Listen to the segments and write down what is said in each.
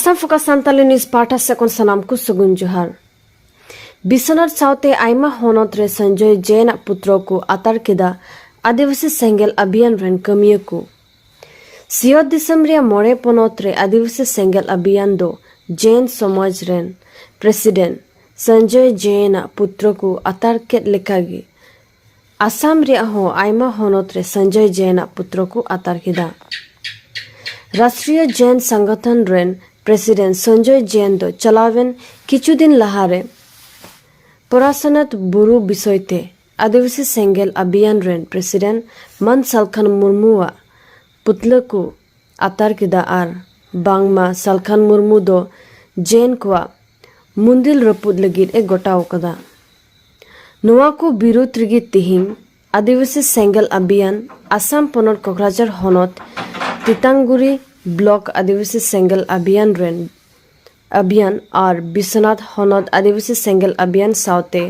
Assam focus Santali news ᱯᱟᱦᱴᱟ ᱥᱮᱫ ᱠᱷᱚᱱ ᱥᱟᱱᱟᱢ ᱠᱚ ᱥᱟᱹᱜᱩᱱ ᱡᱚᱦᱟᱨ ᱵᱤᱥᱚᱱᱟᱛ ᱥᱟᱶᱛᱮ ᱟᱭᱢᱟ ᱦᱚᱱᱚᱛ ᱨᱮ ᱥᱚᱧᱡᱚᱭ ᱡᱮᱱ ᱟᱜ ᱯᱩᱛᱨᱚ ᱠᱚ ᱟᱛᱟᱨ ᱠᱮᱫᱟ ᱟᱹᱫᱤᱵᱟᱹᱥᱤ ᱥᱮᱸᱜᱮᱞ ᱟᱵᱷᱤᱭᱟᱱ ᱨᱮᱱ ᱠᱟᱹᱢᱤᱭᱟᱹ ᱠᱚ ᱥᱤᱭᱚᱛ ᱫᱤᱥᱚᱢ ᱨᱮᱭᱟᱜ ᱢᱚᱬᱮ ᱯᱚᱱᱚᱛ ᱨᱮ ᱟᱹᱫᱤᱵᱟᱹᱥᱤ ᱥᱮᱸᱜᱮᱞ ᱟᱵᱷᱤᱭᱟᱱ ᱫᱚ ᱡᱮᱱ ᱥᱚᱢᱟᱡᱽ ᱨᱮᱱ ᱯᱨᱮᱥᱤᱰᱮᱱᱴ ᱥᱚᱧᱡᱚᱭ ᱡᱮᱱ ᱟᱜ ᱯᱩᱛᱨᱚ ᱠᱚ ᱟᱛᱟᱨ ᱠᱮᱫ ᱞᱮᱠᱟᱜᱮ ᱟᱥᱟᱢ ᱨᱮᱭᱟᱜ ᱦᱚᱸ ᱟᱭᱢᱟ ᱦᱚᱱᱚᱛ ᱨᱮ ᱥᱚᱧᱡᱚᱭ ᱡᱮᱱ ᱟᱜ ᱯᱩᱛᱨᱚ ᱠᱚ ᱟᱛᱟᱨ ᱠᱮᱫᱟ᱾ ᱨᱟᱥᱴᱨᱤᱭᱚ ᱡᱮᱱ ᱥᱟᱝᱜᱚᱴᱷᱚᱱ ᱨᱮᱱ ᱯᱨᱮᱥᱤᱰᱮᱱᱴ ᱥᱚᱧᱡᱚᱭ ᱡᱮᱱ ᱫᱚ ᱪᱟᱞᱟᱣᱮᱱ ᱠᱤᱪᱷᱩ ᱫᱤᱱ ᱞᱟᱦᱟ ᱨᱮ ᱯᱚᱨᱟᱥᱚᱱᱟᱛᱷ ᱵᱩᱨᱩ ᱵᱤᱥᱚᱭ ᱛᱮ ᱟᱹᱫᱤᱵᱟᱹᱥᱤ ᱥᱮᱸᱜᱮᱞ ᱟᱵᱷᱤᱭᱟᱱ ᱨᱮᱱ ᱯᱨᱮᱥᱤᱰᱮᱱᱴ ᱢᱟᱱ ᱥᱟᱞᱠᱷᱟᱱ ᱢᱩᱨᱢᱩ ᱟᱜ ᱯᱩᱛᱞᱟᱹ ᱠᱚ ᱟᱛᱟᱨ ᱠᱮᱫᱟ ᱟᱨ ᱵᱟᱝᱢᱟ ᱥᱟᱞᱠᱷᱟᱱ ᱢᱩᱨᱢᱩ ᱫᱚ ᱡᱮᱱ ᱠᱚᱣᱟᱜ ᱢᱩᱱᱫᱤᱞ ᱨᱟᱹᱯᱩᱫ ᱞᱟᱹᱜᱤᱫ ᱮ ᱜᱚᱴᱟᱣ ᱟᱠᱟᱫᱟ ᱱᱚᱣᱟ ᱠᱚ ᱵᱤᱨᱩᱫᱽ ᱨᱮᱜᱮ ᱛᱮᱦᱮᱧ ᱟᱹᱫᱤᱵᱟᱹᱥᱤ ᱥᱮᱸᱜᱮᱞ ᱟᱵᱷᱤᱭᱟᱱ ᱟᱥᱟᱢ ᱯᱚᱱᱚᱛ ᱠᱚᱠᱨᱟᱡᱷᱟᱨ ᱦᱚᱱᱚᱛ ᱛᱤᱛᱟᱝᱜᱩᱨᱤ ᱵᱞᱚᱠ ᱟᱹᱫᱤᱵᱟᱹᱥᱤ ᱥᱮᱸᱜᱮᱞ ᱟᱵᱷᱤᱭᱟᱱ ᱨᱮᱱ ᱟᱵᱷᱤᱭᱟᱱ ᱟᱨ ᱵᱤᱥᱥᱚᱱᱟᱛᱷ ᱦᱚᱱᱚᱛ ᱟᱹᱫᱤᱵᱟᱹᱥᱤ ᱥᱮᱸᱜᱮᱞ ᱟᱵᱷᱤᱭᱟᱱ ᱥᱟᱶᱛᱮ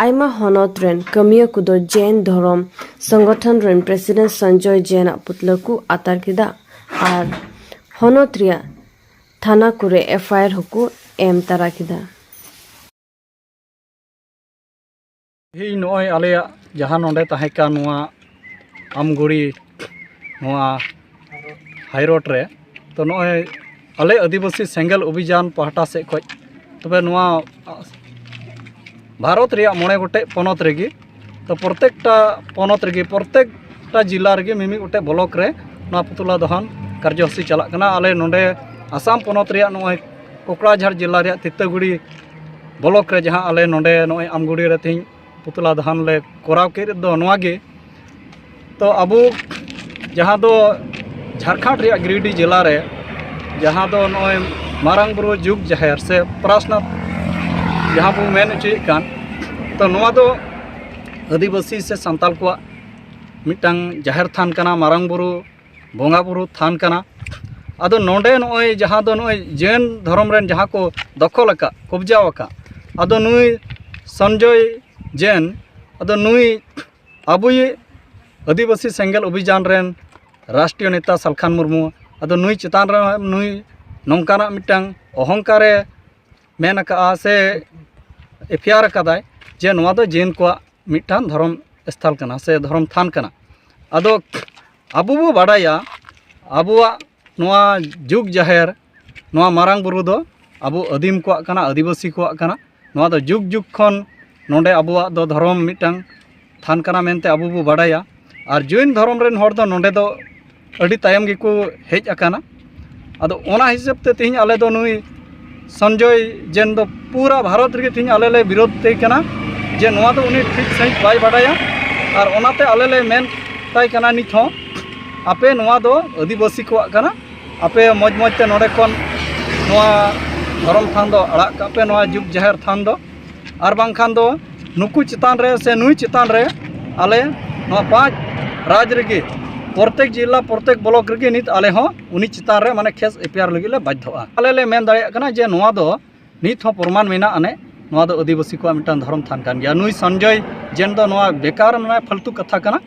ᱟᱭᱢᱟ ᱦᱚᱱᱚᱛ ᱨᱮᱱ ᱠᱟᱹᱢᱤᱭᱟᱹ ᱠᱚᱫᱚ ᱡᱮᱭᱱ ᱫᱷᱚᱨᱚᱢ ᱥᱚᱝᱜᱚᱴᱷᱚᱱ ᱨᱮᱱ ᱯᱨᱮᱥᱤᱰᱮᱱᱴ ᱥᱚᱧᱡᱚᱭ ᱡᱮᱭᱱ ᱟᱜ ᱯᱩᱛᱞᱟᱹ ᱠᱚ ᱟᱛᱟᱨ ᱠᱮᱫᱟ ᱟᱨ ᱦᱚᱱᱚᱛ ᱨᱮᱭᱟᱜ ᱛᱷᱟᱱᱟ ᱠᱚᱨᱮ ᱮᱯᱷᱟᱭᱟᱨ ᱦᱚᱸᱠᱚ ᱮᱢ ᱛᱟᱨᱟ ᱠᱮᱫᱟ᱾ ᱤᱧ ᱱᱚᱜᱼᱚᱭ ᱟᱞᱮᱭᱟᱜ ᱡᱟᱦᱟᱸ ᱱᱚᱰᱮ ᱛᱟᱦᱮᱸ ᱠᱟᱱ ᱱᱚᱣᱟ ᱟᱢᱜᱷᱩᱲᱤ ᱱᱚᱣᱟ ᱦᱟᱭ ᱨᱳᱰ ᱨᱮ ᱛᱚ ᱱᱚᱜᱼᱚᱭ ᱟᱞᱮ ᱟᱹᱫᱤᱵᱟᱹᱥᱤ ᱥᱮᱸᱜᱮᱞ ᱚᱵᱷᱤᱡᱟᱱ ᱯᱟᱦᱴᱟ ᱥᱮᱫ ᱠᱷᱚᱱ ᱛᱚᱵᱮ ᱱᱚᱣᱟ ᱵᱷᱟᱨᱚᱛ ᱨᱮᱭᱟᱜ ᱢᱚᱬᱮ ᱜᱚᱴᱮᱡ ᱯᱚᱱᱚᱛ ᱨᱮᱜᱮ ᱛᱚ ᱯᱨᱚᱛᱮᱠᱴᱟ ᱯᱚᱱᱚᱛ ᱨᱮᱜᱮ ᱯᱨᱚᱛᱮᱠᱴᱟ ᱡᱮᱞᱟ ᱨᱮᱜᱮ ᱢᱤᱢᱤᱫ ᱜᱚᱴᱮᱡ ᱵᱞᱚᱠ ᱨᱮ ᱱᱚᱣᱟ ᱯᱩᱛᱞᱟ ᱫᱚᱦᱚᱱ ᱠᱟᱨᱡᱚᱥᱩᱪᱤ ᱪᱟᱞᱟᱜ ᱠᱟᱱᱟ ᱟᱞᱮ ᱱᱚᱰᱮ ᱟᱥᱟᱢ ᱯᱚᱱᱚᱛ ᱨᱮᱭᱟᱜ ᱱᱚᱜᱼᱚᱭ ᱠᱚᱠᱲᱟᱡᱷᱟᱲ ᱡᱮᱞᱟ ᱨᱮᱭᱟᱜ ᱛᱤᱛᱟᱹᱜᱩᱲᱤ ᱵᱞᱚᱠ ᱨᱮ ᱡᱟᱦᱟᱸ ᱟᱞᱮ ᱱᱚᱰᱮ ᱱᱚᱜᱼᱚᱭ ᱟᱢᱜᱩᱲᱤ ᱨᱮ ᱛᱮᱦᱮᱧ ᱯᱩᱛᱞᱟ ᱫᱟᱦᱟᱱ ᱞᱮ ᱠᱚᱨᱟᱣ ᱠᱮᱫ ᱫᱚ ᱱᱚᱣᱟ ᱜᱮ ᱛᱚ ᱟᱵᱚ ᱡᱟᱦᱟᱸ ᱫᱚ ᱡᱷᱟᱲᱠᱷᱚᱸᱰ ᱨᱮᱭᱟᱜ ᱜᱤᱨᱤᱰᱤ ᱡᱮᱞᱟ ᱨᱮ ᱡᱟᱦᱟᱸ ᱫᱚ ᱱᱚᱜᱼᱚᱭ ᱢᱟᱨᱟᱝ ᱵᱩᱨᱩ ᱡᱩᱜᱽ ᱡᱟᱦᱮᱨ ᱥᱮ ᱯᱨᱟᱥᱱᱟᱛᱷ ᱡᱟᱦᱟᱸ ᱵᱚᱱ ᱢᱮᱱ ᱦᱚᱪᱚᱭᱮᱫ ᱠᱟᱱ ᱛᱚ ᱱᱚᱣᱟ ᱫᱚ ᱟᱹᱫᱤᱵᱟᱹᱥᱤ ᱥᱮ ᱥᱟᱱᱛᱟᱞ ᱠᱚᱣᱟᱜ ᱢᱤᱫᱴᱟᱝ ᱡᱟᱦᱮᱨ ᱛᱷᱟᱱ ᱠᱟᱱᱟ ᱢᱟᱨᱟᱝ ᱵᱩᱨᱩ ᱵᱚᱸᱜᱟ ᱵᱩᱨᱩ ᱛᱷᱟᱱ ᱠᱟᱱᱟ ᱟᱫᱚ ᱱᱚᱰᱮ ᱱᱚᱜᱼᱚᱭ ᱡᱟᱦᱟᱸ ᱫᱚ ᱱᱚᱜᱼᱚᱭ ᱡᱮᱱ ᱫᱷᱚᱨᱚᱢ ᱨᱮᱱ ᱡᱟᱦᱟᱸ ᱠᱚ ᱫᱚᱠᱷᱚᱞ ᱟᱠᱟᱫ ᱠᱚᱵᱽᱡᱟ ᱟᱠᱟᱫ ᱟᱫᱚ ᱱᱩᱭ ᱥᱚᱧᱡᱚᱭ ᱡᱮᱱ ᱟᱫᱚ ᱱᱩᱭ ᱟᱵᱚᱭᱤᱡ ᱟᱹᱫᱤᱵᱟᱹᱥᱤ ᱥᱮᱸᱜᱮᱞ ᱚᱵᱷᱤᱡᱟᱱ ᱨᱮᱱ ᱨᱟᱥᱴᱨᱤᱭᱚ ᱱᱮᱛᱟ ᱥᱟᱞᱠᱷᱟᱱ ᱢᱩᱨᱢᱩ ᱟᱫᱚ ᱱᱩᱭ ᱪᱮᱛᱟᱱ ᱨᱮ ᱱᱩᱭ ᱱᱚᱝᱠᱟᱱᱟᱜ ᱢᱤᱫᱴᱟᱝ ᱚᱦᱚᱝᱠᱟᱨᱮ ᱢᱮᱱ ᱟᱠᱟᱫᱼᱟ ᱥᱮ ᱮᱯᱷᱮᱭᱟᱨ ᱟᱠᱟᱫᱟᱭ ᱡᱮ ᱱᱚᱣᱟ ᱫᱚ ᱡᱮᱱ ᱠᱚᱣᱟᱜ ᱢᱤᱫᱴᱟᱝ ᱫᱷᱚᱨᱚᱢ ᱥᱛᱷᱟᱱ ᱠᱟᱱᱟ ᱥᱮ ᱫᱷᱚᱨᱚᱢ ᱛᱷᱟᱱ ᱠᱟᱱᱟ ᱟᱫᱚ ᱟᱵᱚ ᱵᱚᱱ ᱵᱟᱰᱟᱭᱟ ᱟᱵᱚᱣᱟᱜ ᱱᱚᱣᱟ ᱡᱩᱜᱽ ᱡᱟᱦᱮᱨ ᱱᱚᱣᱟ ᱢᱟᱨᱟᱝ ᱵᱩᱨᱩ ᱫᱚ ᱟᱵᱚ ᱟᱹᱫᱤᱢ ᱠᱚᱣᱟᱜ ᱠᱟᱱᱟ ᱟᱹᱫᱤᱵᱟᱹᱥᱤ ᱠᱚᱣᱟᱜ ᱠᱟᱱᱟ ᱱᱚᱣᱟ ᱫᱚ ᱡᱩᱜᱽ ᱡᱩᱜᱽ ᱠᱷᱚᱱ ᱱᱚᱰᱮ ᱟᱵᱚᱣᱟᱜ ᱫᱚ ᱫᱷᱚᱨᱚᱢ ᱢᱤᱫᱴᱟᱝ ᱛᱷᱟᱱ ᱠᱟᱱᱟ ᱢᱮᱱᱛᱮ ᱟᱵᱚ ᱵᱚᱱ ᱵᱟᱰᱟᱭᱟ ᱟᱨ ᱡᱳᱭᱱ ᱫᱷᱚᱨᱚᱢ ᱨᱮᱱ ᱦᱚᱲ ᱫᱚ ᱱᱚᱰᱮ ᱫᱚ ᱟᱹᱰᱤ ᱛᱟᱭᱚᱢ ᱜᱮᱠᱚ ᱦᱮᱡ ᱟᱠᱟᱱᱟ ᱟᱫᱚ ᱚᱱᱟ ᱦᱤᱥᱟᱹᱵ ᱛᱮ ᱛᱮᱦᱮᱧ ᱟᱞᱮ ᱫᱚ ᱱᱩᱭ ᱥᱚᱧᱡᱚᱭ ᱡᱮᱱ ᱫᱚ ᱯᱩᱨᱟᱹ ᱵᱷᱟᱨᱚᱛ ᱨᱮᱜᱮ ᱛᱮᱦᱮᱧ ᱟᱞᱮ ᱞᱮ ᱵᱤᱨᱳᱫᱷ ᱛᱮ ᱠᱟᱱᱟ ᱡᱮ ᱱᱚᱣᱟ ᱫᱚ ᱩᱱᱤ ᱴᱷᱤᱠ ᱥᱟᱺᱦᱤᱡ ᱵᱟᱭ ᱵᱟᱰᱟᱭᱟ ᱟᱨ ᱚᱱᱟᱛᱮ ᱟᱞᱮ ᱞᱮ ᱢᱮᱱ ᱛᱟᱭ ᱠᱟᱱᱟ ᱱᱤᱛ ᱦᱚᱸ ᱟᱯᱮ ᱱᱚᱣᱟ ᱫᱚ ᱟᱹᱫᱤᱵᱟᱹᱥᱤ ᱠᱚᱣᱟᱜ ᱠᱟᱱᱟ ᱟᱯᱮ ᱢᱚᱡᱽ ᱢᱚᱡᱽ ᱛᱮ ᱱᱚᱰᱮ ᱠᱷᱚᱱ ᱱᱚᱣᱟ ᱫᱷᱚᱨᱚᱢ ᱛᱷᱟᱱ ᱫᱚ ᱟᱲᱟᱜ ᱠᱟᱜ ᱯᱮ ᱱᱚᱣᱟ ᱡᱩᱜᱽ ᱡᱟᱦᱮᱨ ᱛᱷᱟᱱ ᱫᱚ ᱟᱨ ᱵᱟᱝᱠᱷᱟᱱ ᱫᱚ ᱱᱩᱠᱩ ᱪᱮᱛᱟᱱ ᱨᱮ ᱥᱮ ᱱᱩᱭ ᱪᱮᱛᱟᱱ ᱨᱮ ᱟᱞᱮ ᱱᱚᱣᱟ ᱯᱟᱸᱪ ᱨᱟᱡᱽ ᱨᱮᱜᱮ ᱯᱨᱚᱛᱮᱠ ᱡᱮᱞᱟ ᱯᱨᱚᱛᱮᱠ ᱵᱞᱚᱠ ᱨᱮᱜᱮ ᱱᱤᱛ ᱟᱞᱮ ᱦᱚᱸ ᱩᱱᱤ ᱪᱮᱛᱟᱱ ᱨᱮ ᱢᱟᱱᱮ ᱠᱮᱥ ᱮᱯᱷ ᱟᱭ ᱟᱨ ᱞᱟᱹᱜᱤᱫ ᱞᱮ ᱵᱟᱫᱽᱫᱷᱚᱜᱼᱟ ᱟᱞᱮ ᱞᱮ ᱢᱮᱱ ᱫᱟᱲᱮᱭᱟᱜ ᱠᱟᱱᱟ ᱡᱮ ᱱᱚᱣᱟ ᱫᱚ ᱱᱤᱛ ᱦᱚᱸ ᱯᱨᱚᱢᱟᱱ ᱢᱮᱱᱟᱜ ᱟᱹᱱᱤᱡ ᱱᱚᱣᱟ ᱫᱚ ᱟᱹᱫᱤᱵᱟᱹᱥᱤ ᱠᱚᱣᱟᱜ ᱢᱤᱫᱴᱟᱝ ᱫᱷᱚᱨᱚᱢ ᱛᱷᱟᱱ ᱠᱟᱱ ᱜᱮᱭᱟ ᱱᱩᱭ ᱥᱚᱧᱡᱚᱭ ᱡᱮᱱ ᱫᱚ ᱱᱚᱣᱟ ᱵᱮᱠᱟᱨ ᱢᱟᱱᱮ ᱯᱷᱟᱹᱞᱛᱩ ᱠᱟᱛᱷᱟ ᱠᱟᱱᱟ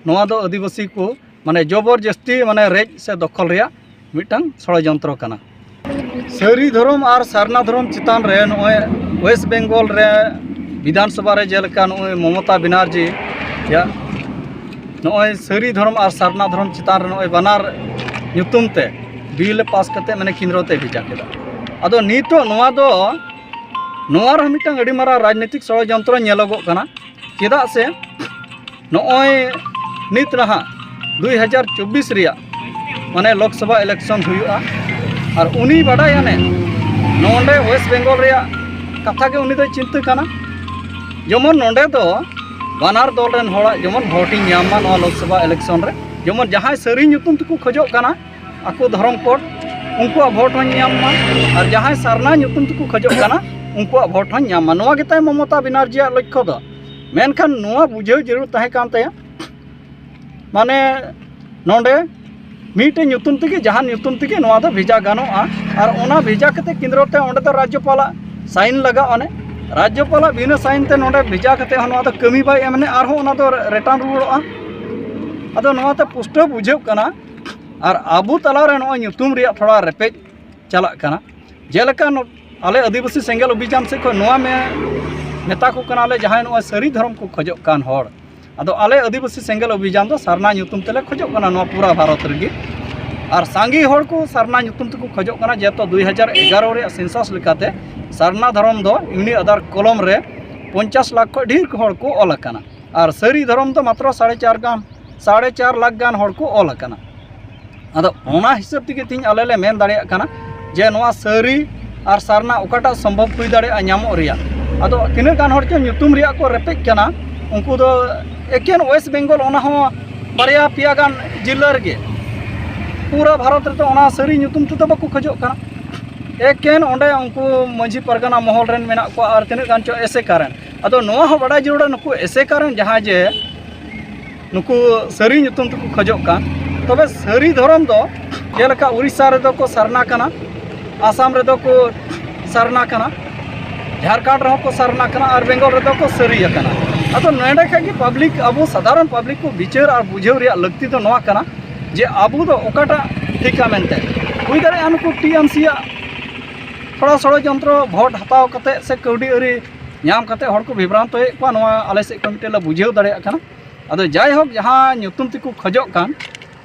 ᱱᱚᱣᱟ ᱫᱚ ᱟᱹᱫᱤᱵᱟᱹᱥᱤ ᱠᱚ ᱢᱟᱱᱮ ᱡᱚᱵᱚᱨ ᱡᱟᱹᱥᱛᱤ ᱢᱟᱱᱮ ᱨᱮᱡ ᱥᱮ ᱫᱚᱠᱷᱚᱞ ᱨᱮᱭᱟᱜ ᱢᱤᱫᱴᱟᱝ ᱥᱚᱲᱚᱡᱚᱱᱛᱨᱚ ᱠᱟᱱᱟ ᱥᱟᱹᱨᱤ ᱫᱷᱚᱨᱚᱢ ᱟᱨ ᱥᱟᱨᱱᱟ ᱫᱷᱚᱨᱚᱢ ᱪᱮᱛᱟᱱ ᱨᱮ ᱱᱚᱜᱼᱚᱭ ᱳᱭᱮᱥᱴ ᱵᱮᱝᱜᱚᱞ ᱨᱮ ᱵᱤᱫᱷᱟᱱ ᱥᱚᱵᱷᱟ ᱨᱮ ᱡᱮᱞᱮᱠᱟ ᱱᱚᱜᱼᱚᱭ ᱢᱚᱢᱚᱛᱟ ᱵᱮᱱᱟᱨᱡᱤ ᱭᱟᱜ ᱱᱚᱜᱼᱚᱭ ᱥᱟᱹᱨᱤ ᱫᱷᱚᱨᱚᱢ ᱟᱨ ᱥᱟᱨᱱᱟ ᱫᱷᱚᱨᱚᱢ ᱪᱮᱛᱟᱱ ᱨᱮ ᱱᱚᱜᱼᱚᱭ ᱵᱟᱱᱟᱨ ᱧᱩᱛᱩᱢ ᱛᱮ ᱵᱤᱞ ᱯᱟᱥ ᱠᱟᱛᱮ ᱢᱟᱱᱮ ᱠᱮᱱᱫᱨᱚ ᱛᱮ ᱵᱷᱮᱡᱟ ᱠᱮᱫᱟ ᱟᱫᱚ ᱱᱤᱛᱚᱜ ᱱᱚᱣᱟ ᱫᱚ ᱱᱚᱣᱟ ᱨᱮᱦᱚᱸ ᱢᱤᱫᱴᱟᱝ ᱟᱹᱰᱤ ᱢᱟᱨᱟᱝ ᱨᱟᱡᱽᱱᱤᱛᱤᱠ ᱥᱚᱲᱚᱡᱚᱱᱛᱨᱚ ᱧᱮᱞᱚᱜᱚᱜ ᱠᱟᱱᱟ ᱪᱮᱫᱟᱜ ᱥᱮ ᱱᱚᱜᱼᱚᱭ ᱱᱤᱛ ᱱᱟᱦᱟᱜ ᱫᱩᱭ ᱦᱟᱡᱟᱨ ᱪᱚᱵᱵᱤᱥ ᱨᱮᱭᱟᱜ ᱢᱟᱱᱮ ᱞᱳᱠᱥᱚᱵᱷᱟ ᱤᱞᱮᱠᱥᱚᱱ ᱦᱩᱭᱩᱜᱼᱟ ᱟᱨ ᱩᱱᱤ ᱵᱟᱰᱟᱭ ᱟᱱᱮ ᱱᱚᱰᱮ ᱳᱭᱮᱥᱴ ᱵᱮᱝᱜᱚᱞ ᱨᱮᱭᱟᱜ ᱠᱟᱛᱷᱟ ᱜᱮ ᱩᱱᱤ ᱫᱚᱭ ᱪᱤᱱᱛᱟᱹ ᱠᱟᱱᱟ ᱡᱮᱢᱚᱱ ᱱᱚᱰᱮ ᱫᱚ ᱵᱟᱱᱟᱨ ᱫᱚᱞ ᱨᱮᱱ ᱦᱚᱲᱟᱜ ᱡᱮᱢᱚᱱ ᱵᱷᱳᱴᱤᱧ ᱧᱟᱢ ᱢᱟ ᱱᱚᱣᱟ ᱞᱳᱠᱥᱚᱵᱷᱟ ᱤᱞᱮᱠᱥᱚᱱ ᱨᱮ ᱡᱮᱢᱚᱱ ᱡᱟᱦᱟᱸᱭ ᱥᱟᱹᱨᱤ ᱧᱩᱛᱩᱢ ᱛᱮᱠᱚ ᱠᱷᱚᱡᱚᱜ ᱠᱟᱱᱟ ᱟᱠᱚ ᱫᱷᱚᱨᱚᱢ ᱠᱳᱰ ᱩᱱᱠᱩᱣᱟᱜ ᱵᱷᱳᱴ ᱦᱚᱧ ᱧᱟᱢ ᱢᱟ ᱟᱨ ᱡᱟᱦᱟᱸᱭ ᱥᱟᱨᱱᱟ ᱧᱩᱛᱩᱢ ᱛᱮᱠᱚ ᱠᱷᱚᱡᱚᱜ ᱠᱟᱱᱟ ᱩᱱᱠᱩᱣᱟᱜ ᱵᱷᱳᱴ ᱦᱚᱧ ᱧᱟᱢ ᱢᱟ ᱱᱚᱣᱟ ᱜᱮᱛᱟᱭ ᱢᱚᱢᱚᱛᱟ ᱵᱮᱱᱟᱨᱡᱤᱭᱟᱜ ᱞᱚᱠᱠᱷᱚ ᱫᱚ ᱢᱮᱱᱠᱷᱟᱱ ᱱᱚᱣᱟ ᱵᱩᱡᱷᱟᱹᱣ ᱡᱟᱹᱨᱩᱲ ᱛᱟᱦᱮᱸ ᱠᱟᱱ ᱛᱟᱭᱟ ᱢᱟᱱᱮ ᱱᱚᱰᱮ ᱢᱤᱫᱴᱮᱱ ᱧᱩᱛᱩᱢ ᱛᱮᱜᱮ ᱡᱟᱦᱟᱱ ᱧᱩᱛᱩᱢ ᱛᱮᱜᱮ ᱱᱚᱣᱟ ᱫᱚ ᱵᱷᱮᱡᱟ ᱜᱟᱱᱚᱜᱼᱟ ᱟᱨ ᱚᱱᱟ ᱵᱷᱮᱡᱟ ᱠᱟᱛᱮ ᱠᱮᱱᱫᱨᱚ ᱛᱮ ᱚᱸᱰᱮ ᱫᱚ ᱨᱟᱡᱽᱡᱚᱯᱟᱞᱟᱜ ᱥᱟᱭᱤᱱ ᱞᱟᱜᱟᱜᱼᱟ ᱚᱱᱮ ᱨᱟᱡᱽᱡᱚᱯᱟᱞᱟᱜ ᱵᱤᱱᱟᱹ ᱥᱟᱭᱤᱱ ᱛᱮ ᱱᱚᱰᱮ ᱵᱷᱮᱡᱟ ᱠᱟᱛᱮ ᱦᱚᱸ ᱱᱚᱣᱟ ᱫᱚ ᱠᱟᱹᱢᱤ ᱵᱟᱭ ᱮᱢ ᱞᱮ ᱟᱨᱦᱚᱸ ᱚᱱᱟ ᱫᱚ ᱨᱤᱴᱟᱨᱱ ᱨᱩᱣᱟᱹᱲᱚᱜᱼᱟ ᱟᱫᱚ ᱱᱚᱣᱟᱛᱮ ᱯᱩᱥᱴᱟᱹᱣ ᱵᱩᱡᱷᱟᱹᱜ ᱠᱟᱱᱟ ᱟᱨ ᱟᱵᱚ ᱛᱟᱞᱟᱨᱮ ᱱᱚᱜᱼᱚᱭ ᱧᱩᱛᱩᱢ ᱨᱮᱭᱟᱜ ᱛᱷᱚᱲᱟ ᱨᱮᱯᱮᱡ ᱪᱟᱞᱟᱜ ᱠᱟᱱᱟ ᱡᱮᱞᱮᱠᱟ ᱟᱞᱮ ᱟᱹᱫᱤᱵᱟᱹᱥᱤ ᱥᱮᱸᱜᱮᱞ ᱚᱵᱷᱤᱡᱟᱱ ᱥᱮᱫ ᱠᱷᱚᱱ ᱱᱚᱣᱟ ᱢᱮᱛᱟ ᱠᱚ ᱠᱟᱱᱟᱞᱮ ᱡᱟᱦᱟᱸᱭ ᱱᱚᱣᱟ ᱥᱟᱹᱨᱤ ᱫᱷᱚᱨᱚᱢ ᱠᱚ ᱠᱷᱚᱡᱚᱜ ᱠᱟᱱ ᱦᱚᱲ ᱟᱫᱚ ᱟᱞᱮ ᱟᱹᱫᱤᱵᱟᱹᱥᱤ ᱥᱮᱸᱜᱮᱞ ᱚᱵᱷᱤᱡᱟᱱ ᱫᱚ ᱥᱟᱨᱱᱟ ᱧᱩᱛᱩᱢ ᱛᱮᱞᱮ ᱠᱷᱚᱡᱚᱜ ᱠᱟᱱᱟ ᱱᱚᱣᱟ ᱯᱩᱨᱟᱹ ᱵᱷᱟᱨᱚᱛ ᱨᱮᱜᱮ ᱟᱨ ᱥᱟᱸᱜᱮ ᱦᱚᱲ ᱠᱚ ᱥᱟᱨᱱᱟ ᱧᱩᱛᱩᱢ ᱛᱮᱠᱚ ᱠᱷᱚᱡᱚᱜ ᱠᱟᱱᱟ ᱡᱮᱦᱮᱛᱩ ᱫᱩᱭ ᱦᱟᱡᱟᱨ ᱮᱜᱟᱨᱚ ᱨᱮᱭᱟᱜ ᱥᱮᱱᱥᱟᱥ ᱞᱮᱠᱟᱛᱮ ᱥᱟᱨᱱᱟ ᱫᱷᱚᱨᱚᱢ ᱫᱚ ᱤᱭᱩᱱᱤᱠ ᱟᱫᱷᱟᱨ ᱠᱚᱞᱚᱢ ᱨᱮ ᱯᱚᱧᱪᱟᱥ ᱞᱟᱠᱷ ᱠᱷᱚᱡ ᱰᱷᱮᱨ ᱦᱚᱲ ᱠᱚ ᱚᱞ ᱟᱠᱟᱱᱟ ᱟᱨ ᱥᱟᱹᱨᱤ ᱫᱷᱚᱨᱚᱢ ᱫᱚ ᱢᱟᱛᱨᱚ ᱥᱟᱲᱮ ᱪᱟᱨ ᱜᱟᱱ ᱥᱟᱲᱮ ᱪᱟᱨ ᱞᱟᱠᱷ ᱜᱟᱱ ᱦᱚᱲ ᱠᱚ ᱚᱞ ᱟᱠᱟᱱᱟ ᱟᱫᱚ ᱚᱱᱟ ᱦᱤᱥᱟᱹᱵ ᱛᱮᱜᱮ ᱛᱤᱧ ᱟᱞᱮ ᱞᱮ ᱢᱮᱱ ᱫᱟᱲᱮᱭᱟᱜ ᱠᱟᱱᱟ ᱡᱮ ᱱᱚᱣᱟ ᱥᱟᱹᱨᱤ ᱟᱨ ᱥᱟᱨᱱᱟ ᱚᱠᱟᱴᱟᱜ ᱥᱚᱢᱵᱷᱚᱵ ᱦᱩᱭ ᱫᱟᱲᱮᱭᱟᱜᱼᱟ ᱧᱟᱢᱚᱜ ᱨᱮᱭᱟᱜ ᱟᱫᱚ ᱛᱤᱱᱟᱹᱜ ᱜᱟᱱ ᱦᱚᱲ ᱪᱚ ᱧᱩᱛᱩᱢ ᱨᱮᱭᱟᱜ ᱠᱚ ᱨᱮᱯᱮᱡ ᱠᱟᱱᱟ ᱩᱱᱠᱩ ᱫᱚ ᱮᱠᱮᱱ ᱳᱭᱮᱥᱴ ᱵᱮᱝᱜᱚᱞ ᱚᱱᱟ ᱦᱚᱸ ᱵᱟᱨᱭᱟ ᱯᱮᱭᱟ ᱜᱟᱱ ᱡᱤᱞᱟᱹ ᱨᱮᱜᱮ ᱯᱩᱨᱟᱹ ᱵᱷᱟᱨᱚᱛ ᱨᱮᱫᱚ ᱚᱱᱟ ᱥᱟᱹᱨᱤ ᱧᱩᱛᱩᱢ ᱛᱮᱫᱚ ᱵᱟᱠᱚ ᱠᱷᱚᱡᱚᱜ ᱠᱟᱱᱟ ᱮᱠᱮᱱ ᱚᱸᱰᱮ ᱩᱱᱠᱩ ᱢᱟᱹᱡᱷᱤ ᱯᱟᱨᱜᱟᱱᱟ ᱢᱚᱦᱚᱞ ᱨᱮᱱ ᱢᱮᱱᱟᱜ ᱠᱚᱣᱟ ᱟᱨ ᱛᱤᱱᱟᱹᱜ ᱜᱟᱱ ᱪᱚ ᱮᱥᱮᱠᱟ ᱨᱮᱱ ᱟᱫᱚ ᱱᱚᱣᱟ ᱦᱚᱸ ᱵᱟᱰᱟᱭ ᱡᱟᱹᱨᱩᱲᱟ ᱱᱩᱠᱩ ᱮᱥᱮᱠᱟ ᱨᱮᱱ ᱡᱟᱦᱟᱸᱭ ᱡᱮ ᱱᱩᱠᱩ ᱥᱟᱹᱨᱤ ᱧᱩᱛᱩᱢ ᱛᱮᱠᱚ ᱠᱷᱚᱡᱚᱜ ᱠᱟᱱ ᱛᱚᱵᱮ ᱥᱟᱹᱨᱤ ᱫᱷᱚᱨᱚᱢ ᱫᱚ ᱡᱮᱞᱮᱠᱟ ᱩᱲᱤᱥᱥᱟ ᱨᱮᱫᱚ ᱠᱚ ᱥᱟᱨᱱᱟ ᱠᱟᱱᱟ ᱟᱥᱟᱢ ᱨᱮᱫᱚ ᱠᱚ ᱥᱟᱨᱱᱟ ᱠᱟᱱᱟ ᱡᱷᱟᱲᱠᱷᱚᱸᱰ ᱨᱮᱦᱚᱸ ᱠᱚ ᱥᱟᱨᱱᱟ ᱠᱟᱱᱟ ᱟᱨ ᱵᱮᱝᱜᱚᱞ ᱨᱮᱫᱚ ᱠᱚ ᱥᱟᱹᱨᱤ ᱟᱠᱟᱱᱟ ᱟᱫᱚ ᱱᱚᱰᱮ ᱠᱷᱟᱱ ᱜᱮ ᱯᱟᱵᱽᱞᱤᱠ ᱟᱵᱚ ᱥᱟᱫᱷᱟᱨᱚᱱ ᱯᱟᱵᱽᱞᱤᱠ ᱠᱚ ᱵᱤᱪᱟᱹᱨ ᱟᱨ ᱵᱩᱡᱷᱟᱹᱣ ᱨᱮᱭᱟᱜ ᱞᱟᱹᱠᱛᱤ ᱫᱚ ᱱᱚᱣᱟ ᱠᱟᱱᱟ ᱡᱮ ᱟᱵᱚ ᱫᱚ ᱚᱠᱟᱴᱟᱜ ᱴᱷᱤᱠᱟ ᱢᱮᱱᱛᱮ ᱦᱩᱭ ᱫᱟᱲᱮᱭᱟᱜᱼᱟ ᱱᱩᱠᱩ ᱴᱤ ᱮᱢ ᱥᱤ ᱟᱜ ᱛᱷᱚᱲᱟ ᱥᱚᱲᱚᱡᱚᱱᱛᱨᱚ ᱵᱷᱳᱴ ᱦᱟᱛᱟᱣ ᱠᱟᱛᱮᱫ ᱥᱮ ᱠᱟᱹᱣᱰᱤ ᱟᱹᱨᱤ ᱧᱟᱢ ᱠᱟᱛᱮᱫ ᱦᱚᱲ ᱠᱚ ᱵᱤᱵᱷᱨᱟᱱᱛᱚᱭᱮᱫ ᱠᱚᱣᱟ ᱱᱚᱣᱟ ᱟᱞᱮ ᱥᱮᱫ ᱠᱷᱚᱱ ᱢᱤᱫᱴᱮᱱ ᱞᱮ ᱵᱩᱡᱷᱟᱹᱣ ᱫᱟᱲᱮᱭᱟᱜ ᱠᱟᱱᱟ ᱟᱫᱚ ᱡᱟᱭᱦᱳᱠ ᱡᱟᱦᱟᱸ ᱧᱩᱛᱩᱢ ᱛᱮᱠᱚ ᱠᱷᱚᱡᱚᱜ ᱠᱟᱱ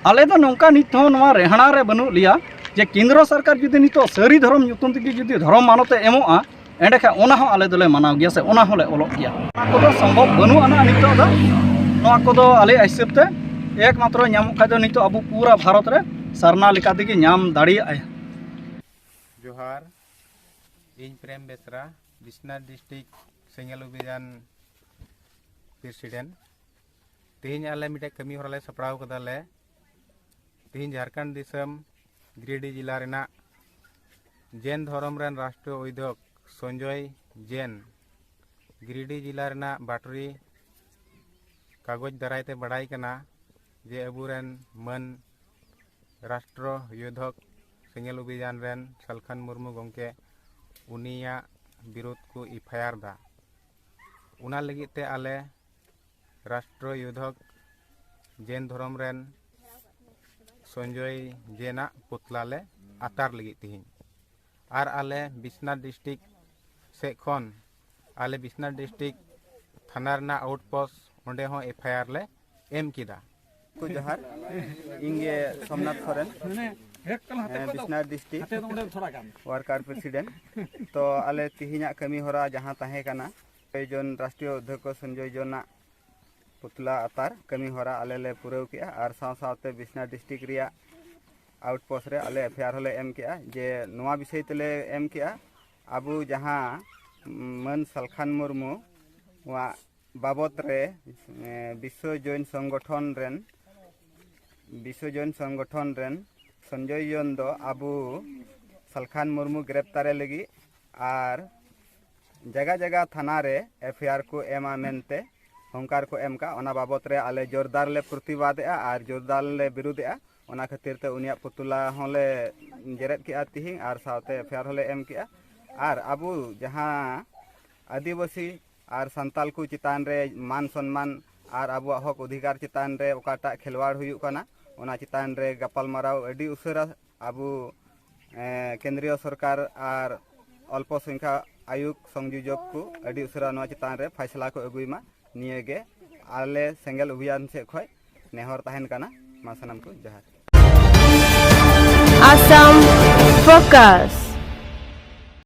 ᱟᱞᱮ ᱫᱚ ᱱᱚᱝᱠᱟ ᱱᱤᱛ ᱦᱚᱸ ᱱᱚᱣᱟ ᱨᱮᱦᱟᱱᱟ ᱨᱮ ᱵᱟᱹᱱᱩᱜ ᱞᱮᱭᱟ ᱡᱮ ᱠᱮᱱᱫᱨᱚ ᱥᱚᱨᱠᱟᱨ ᱡᱩᱫᱤ ᱱᱤᱛᱚᱜ ᱥᱟᱹᱨᱤ ᱫᱷᱚᱨᱚᱢ ᱧᱩᱛᱩᱢ ᱛᱮᱜᱮ ᱡᱩᱫᱤ ᱫᱷᱚᱨᱚᱢ ᱢᱟᱱᱚᱛ ᱮ ᱮᱢᱚᱜᱼᱟ ᱮᱸᱰᱮᱠᱷᱟᱱ ᱚᱱᱟ ᱦᱚᱸ ᱟᱞᱮ ᱫᱚᱞᱮ ᱢᱟᱱᱟᱣ ᱜᱮᱭᱟ ᱥᱮ ᱚᱱᱟ ᱦᱚᱸᱞᱮ ᱚᱞᱚᱜ ᱜᱮᱭᱟ ᱚᱱᱟ ᱠᱚᱫᱚ ᱥᱚᱢᱵᱷᱚᱵ ᱵᱟᱹᱱᱩᱜ ᱟᱱᱟ ᱱᱤᱛᱚᱜ ᱫᱚ ᱱᱚᱣᱟ ᱠᱚᱫᱚ ᱟᱞᱮ ᱦᱤᱥᱟᱹᱵ ᱛᱮ ᱮᱠ ᱢᱟᱛᱨᱚ ᱧᱟᱢᱚᱜ ᱠᱷᱟᱡ ᱫᱚ ᱱᱤᱛᱚᱜ ᱟᱵᱚ ᱯᱩᱨᱟ ᱵᱷᱟᱨᱚᱛ ᱨᱮ ᱥᱟᱨᱱᱟ ᱞᱮᱠᱟ ᱛᱮᱜᱮ ᱧᱟᱢ ᱫᱟᱲᱮᱭᱟᱜᱼᱟ ᱡᱚᱦᱟᱨ ᱤᱧ ᱯᱨᱮᱢ ᱵᱮᱥᱨᱟ ᱵᱤᱥᱱᱟᱛᱷ ᱰᱤᱥᱴᱨᱤᱠ ᱥᱮᱸᱜᱮᱞ ᱚᱵᱷᱤᱡᱟᱱ ᱯᱨᱮᱥᱤᱰᱮᱱᱴ ᱛᱮᱦᱮᱧ ᱟᱞᱮ ᱢᱤᱫᱴᱮᱡ ᱠᱟᱹᱢᱤ ᱦᱚᱨᱟ ᱞᱮ ᱥᱟᱯᱲᱟᱣ ᱠᱟᱫᱟ ᱞᱮ ᱛᱮᱦᱮᱧ ᱡᱷᱟᱲᱠᱷᱚᱸᱰ ᱫᱤᱥᱚᱢ ᱜᱤᱨᱤᱰᱤ ᱡᱮᱞᱟ ᱨᱮᱱᱟᱜ ᱡᱮᱱ ᱫᱷᱚᱨᱚᱢ ᱨᱮᱱ ᱨᱟᱥᱴᱨᱤᱭᱚ ᱩᱭᱫᱷᱚᱠ ᱥᱚᱧᱡᱚᱭ ᱡᱮᱱ ᱜᱤᱨᱤᱰᱤ ᱡᱮᱞᱟ ᱨᱮᱱᱟᱜ ᱵᱟᱴᱨᱤ ᱠᱟᱜᱚᱡᱽ ᱫᱟᱨᱟᱭ ᱛᱮ ᱵᱟᱲᱟᱭ ᱠᱟᱱᱟ ᱡᱮ ᱟᱵᱚᱨᱮᱱ ᱢᱟᱹᱱ ᱨᱟᱥᱴᱨᱚ ᱭᱳᱫᱷᱚᱠ ᱥᱮᱸᱜᱮᱞ ᱚᱵᱷᱤᱡᱟᱱ ᱨᱮᱱ ᱥᱟᱞᱠᱷᱟᱱ ᱢᱩᱨᱢᱩ ᱜᱚᱢᱠᱮ ᱩᱱᱤᱭᱟᱜ ᱵᱤᱨᱳᱫᱷ ᱠᱚ ᱮᱯᱷᱟᱭᱟᱨ ᱫᱟ ᱚᱱᱟ ᱞᱟᱹᱜᱤᱫ ᱛᱮ ᱟᱞᱮ ᱨᱟᱥᱴᱨᱚ ᱭᱩᱫᱷᱚᱠ ᱡᱮᱱ ᱫᱷᱚᱨᱚᱢ ᱨᱮᱱ ᱥᱚᱧᱡᱚᱭ ᱡᱮᱱᱟᱜ ᱯᱩᱛᱞᱟ ᱞᱮ ᱟᱛᱟᱨ ᱞᱟᱹᱜᱤᱫ ᱛᱮᱦᱮᱧ ᱟᱨ ᱟᱞᱮ ᱵᱤᱥᱱᱟᱛᱷ ᱰᱤᱥᱴᱤᱠ ᱥᱮᱫ ᱠᱷᱚᱱ ᱟᱞᱮ ᱵᱤᱥᱱᱟᱛᱷ ᱰᱤᱥᱴᱤᱠ ᱛᱷᱟᱱᱟ ᱨᱮᱱᱟᱜ ᱟᱣᱩᱴ ᱯᱳᱥᱴ ᱚᱸᱰᱮ ᱦᱚᱸ ᱮᱯᱷ ᱟᱭ ᱟᱨ ᱞᱮ ᱮᱢ ᱠᱮᱫᱟ ᱠᱚ ᱡᱚᱦᱟᱨ ᱤᱧ ᱜᱮ ᱥᱚᱢᱱᱟᱛᱷ ᱥᱚᱨᱮᱱ ᱵᱤᱥᱱᱟᱨ ᱰᱤᱥᱴᱤᱠ ᱣᱟᱨᱠᱟᱨ ᱯᱨᱮᱥᱤᱰᱮᱱᱴ ᱛᱚ ᱟᱞᱮ ᱛᱮᱦᱮᱧᱟᱜ ᱠᱟᱹᱢᱤ ᱦᱚᱨᱟ ᱡᱟᱦᱟᱸ ᱛᱟᱦᱮᱸ ᱠᱟᱱᱟ ᱥᱚᱧᱡᱚᱭ ᱡᱚᱱ ᱨᱟᱥᱴᱨᱤᱭᱚ ᱚᱫᱽᱫᱷᱚᱠᱚ ᱥᱚᱧᱡᱚᱭ ᱡᱚᱱᱟᱜ ᱯᱩᱛᱞᱟ ᱟᱛᱟᱨ ᱠᱟᱹᱢᱤ ᱦᱚᱨᱟ ᱟᱞᱮ ᱞᱮ ᱯᱩᱨᱟᱹᱣ ᱠᱮᱜᱼᱟ ᱟᱨ ᱥᱟᱶ ᱥᱟᱶᱛᱮ ᱵᱤᱥᱱᱟᱨ ᱰᱤᱥᱴᱤᱠ ᱨᱮᱭᱟᱜ ᱟᱣᱩᱴᱯᱳᱥᱴ ᱨᱮ ᱟᱞᱮ ᱮᱯᱷᱮᱭᱟᱨ ᱦᱚᱸᱞᱮ ᱮᱢ ᱠᱮᱜᱼᱟ ᱡᱮ ᱱᱚᱣᱟ ᱵᱤᱥᱚᱭ ᱛᱮᱞᱮ ᱮᱢ ᱠᱮᱜᱼᱟ ᱟᱵᱚ ᱡᱟᱦᱟᱸ ᱢᱟᱹᱱ ᱥᱟᱞᱠᱷᱟᱱ ᱢᱩᱨᱢᱩ ᱣᱟᱜ ᱵᱟᱵᱚᱛ ᱨᱮ ᱵᱤᱥᱥᱚ ᱡᱚᱭᱱ ᱥᱚᱝᱜᱚᱴᱷᱚᱱ ᱨᱮᱱ ᱵᱤᱥᱥᱚ ᱡᱚᱭᱱ ᱥᱚᱝᱜᱚᱴᱷᱚᱱ ᱨᱮᱱ ᱥᱚᱧᱡᱚᱭ ᱡᱚᱱ ᱫᱚ ᱟᱵᱚ ᱥᱟᱞᱠᱷᱟᱱ ᱢᱩᱨᱢᱩ ᱜᱨᱮᱯᱛᱟᱨᱮ ᱞᱟᱹᱜᱤᱫ ᱟᱨ ᱡᱟᱭᱜᱟ ᱡᱟᱭᱜᱟ ᱛᱷᱟᱱᱟ ᱨᱮ ᱮᱯᱷ ᱟᱭ ᱟᱨ ᱠᱚ ᱮᱢᱟ ᱢᱮᱱᱛᱮ ᱦᱚᱝᱠᱟᱨ ᱠᱚ ᱮᱢ ᱠᱟᱜ ᱚᱱᱟ ᱵᱟᱵᱚᱛ ᱨᱮ ᱟᱞᱮ ᱡᱳᱨᱫᱟᱨ ᱞᱮ ᱯᱨᱚᱛᱤᱵᱟᱫᱮᱜᱼᱟ ᱟᱨ ᱡᱳᱨᱫᱟᱨ ᱞᱮ ᱵᱤᱨᱩᱫᱮᱜᱼᱟ ᱚᱱᱟ ᱠᱷᱟᱹᱛᱤᱨ ᱛᱮ ᱩᱱᱤᱭᱟᱜ ᱯᱩᱛᱩᱞᱟ ᱦᱚᱸᱞᱮ ᱡᱮᱨᱮᱫ ᱠᱮᱜᱼᱟ ᱛᱤᱦᱤᱧ ᱟᱨ ᱥᱟᱶᱛᱮ ᱮᱯᱷ ᱟᱭ ᱟᱨ ᱦᱚᱸᱞᱮ ᱮᱢ ᱠᱮᱜᱼᱟ ᱟᱨ ᱟᱵᱚ ᱡᱟᱦᱟᱸ ᱟᱹᱫᱤᱵᱟᱹᱥᱤ ᱟᱨ ᱥᱟᱱᱛᱟᱞ ᱠᱚ ᱪᱮᱛᱟᱱ ᱨᱮ ᱢᱟᱱ ᱥᱚᱱᱢᱟᱱ ᱟᱨ ᱟᱵᱚᱣᱟᱜ ᱦᱚᱠ ᱚᱫᱷᱤᱠᱟᱨ ᱪᱮᱛᱟᱱ ᱨᱮ ᱚᱠᱟᱴᱟᱜ ᱠᱷᱮᱞᱣᱟᱲ ᱦᱩᱭᱩᱜ ᱠᱟᱱᱟ ᱚᱱᱟ ᱪᱮᱛᱟᱱ ᱨᱮ ᱜᱟᱯᱟᱞᱢᱟᱨᱟᱣ ᱟᱹᱰᱤ ᱩᱥᱟᱹᱨᱟ ᱟᱵᱚ ᱠᱮᱱᱫᱨᱤᱭᱚ ᱥᱚᱨᱠᱟᱨ ᱟᱨ ᱚᱞᱯᱚ ᱥᱚᱝᱠᱷᱟ ᱟᱭᱩᱜᱽ ᱥᱚᱝᱡᱳᱡᱚᱠ ᱠᱚ ᱟᱹᱰᱤ ᱩᱥᱟᱹᱨᱟ ᱱᱚᱣᱟ ᱪᱮᱛᱟᱱ ᱨᱮ ᱯᱷᱟᱭᱥᱞᱟ ᱠᱚ ᱟᱹᱜᱩᱭ ᱢᱟ ᱱᱤᱭᱟᱹ ᱜᱮ ᱟᱞᱮ ᱥᱮᱸᱜᱮᱞ ᱚᱵᱷᱤᱭᱟᱱ ᱥᱮᱫ ᱠᱷᱚᱱ ᱱᱮᱦᱚᱨ ᱛᱟᱦᱮᱱ ᱠᱟᱱᱟ ᱢᱟ ᱥᱟᱱᱟᱢ ᱠᱚ ᱡᱚᱦᱟᱨ ᱟᱥᱟᱢ ᱯᱷᱳᱠᱟᱥ